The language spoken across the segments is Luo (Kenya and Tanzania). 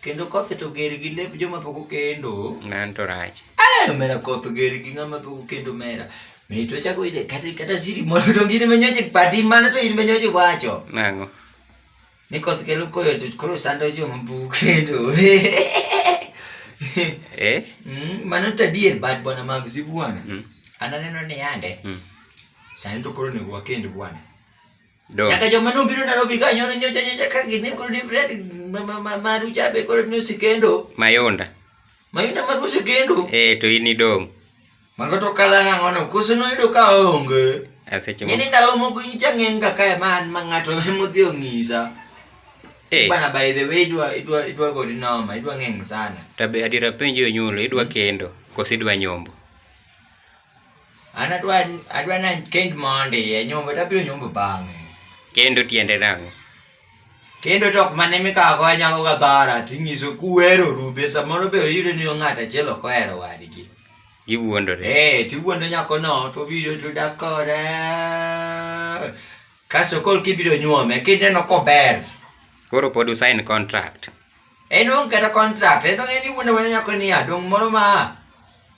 Kendo koth to ger gi lep joma pok okendo. Nan to rach. Eh, omera koth ger gi ng'ama pok okendo omera. Mi to chako ide kata kata siri moro to ngine menyoje pati mana to in menyoje wacho. Nango. Ni koth kelo koyo to koro sando joma pok okendo. Eh? Mm, mano to adier bad bwana mag si bwana. Mm. Ananeno ni yande. Mm. Sani to koro nego wakend bwana. Dong. Nyaka joma nobiro Nairobi ka nyono nyocha nyocha ka gidhi kod ni Fred ma- ma- ma- maru jabe kod ni osikendo. Mayunda. Mayunda maru osikendo. Eh, to in idong'. Mago to kala nang'o no koso noyudo ka onge. Ah, Seche moko. Ng'eni ndalo moko nyicha ng'eng ka kae ma an ma ng'ato emodhi ong'isa. Eh, Bana by the way idwa idwa idwa godi noma idwa ng'eng sana. tabe adiera penjo onyulo, idwa kendo koso idwa nyombo? An adwa adwa na kend mondi e nyombo to abiro nyombo bang'e. Kendo tiende nang'o? Kendo to ok mane mikawo go nyako ga dhara tinyiso kuwero rupe samoro be oyudo ni ng'ato achiel ok ohero wadgi. Giwuondore. Eh, tiwuondo nyako no to obiro to dak kode. Kasto koro kibiro nyuome kineno kober. Koro pod usain contract. En onge kata contract, en onge ni wuondo mana nyako niya, dong' moro ma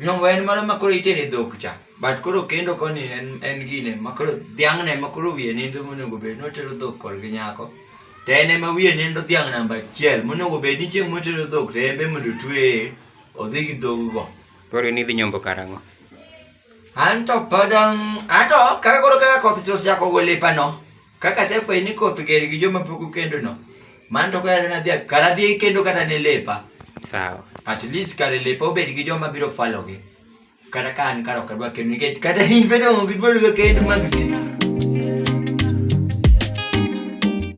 Nyombo en moro ma koro itere dhok cha. But koro kendo koni en en gine ma koro dhiang' ne ma koro wiye nindo monego bed ni otero dhok kor gi nyako. To en ema wiye nindo dhiang' namba achiel monego bed ni chieng' motero dhok to en be mondo otweye odhi gi dhog go. Koro in idhi nyombo karang'o? Anto pod um, anto kaka koro kaka koth chosechako gole pano. Kaka asefwenyo ni koth ger gi joma pok okendono, mano to kata nadhi kar adhi kendo kata ne lepa. Sawa. At least kar lepa obed gi joma biro falogi. Kata ka an kar ok adwa kendo nikech kata in bende onge gidwaro kendo mag sina.